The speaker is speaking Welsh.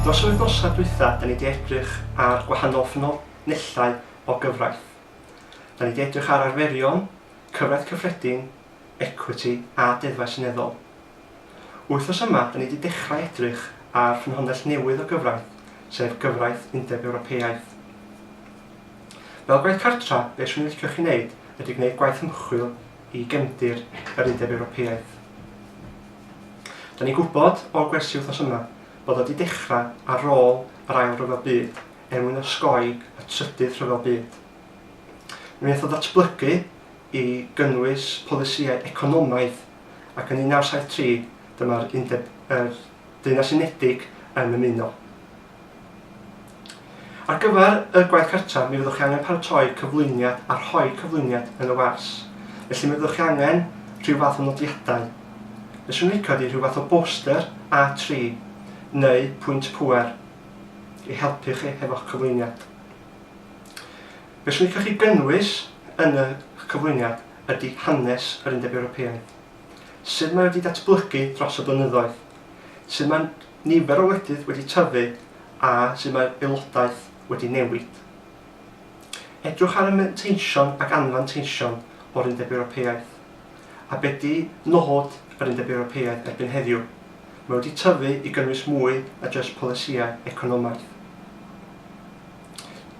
Dros yr wythnosau dwytha, da ni di edrych ar gwahanol ffynonellau o gyfraith. Da ni di edrych ar arferion, cyfraith cyffredin, ecwiti a deddfau seneddol. Wythnos yma, da ni wedi dechrau edrych ar ffynhonnell newydd o gyfraith, sef gyfraith Undeb Ewropeaidd. Fel Gwaith Cartra, be' 'swn i'n licio chi wneud ydy gwneud gwaith ymchwil i gefndir yr Undeb Ewropeaidd. Da ni'n gwybod o'r gwersi wythnos yma bod o wedi dechrau ar ôl yr Ail Ryfel Byd er mwyn osgoi y Trydydd Rhyfel Byd. Mi wnaeth o ddatblygu i gynnwys polisïau economaidd, ac yn 1973 dyma'r Undeb yr Deyrnas Unedig yn ymuno. Ar gyfer y gwaith cartref, mi fyddwch chi angen paratoi cyflwyniad a rhoi cyflwyniad yn y wers. Felly mi fyddwch chi angen rhyw fath o nodiadau. Fe swn licio di rhyw fath o boster A3 neu pwynt pwer i helpu chi hefo'ch cyflwyniad. Be swn i'n licio chi gynnwys yn y cyflwyniad ydy hanes yr Undeb Ewropeaidd, sut mae wedi datblygu dros y blynyddoedd, sut mae nifer o wledydd wedi tyfu a sut mae aelodaeth wedi newid. Edrwch ar y manteision ac anfanteision o'r Undeb Ewropeaidd. A be di nod yr Undeb Ewropeaidd erbyn heddiw? Mae wedi tyfu i gynnwys mwy na jyst polisïau economaidd.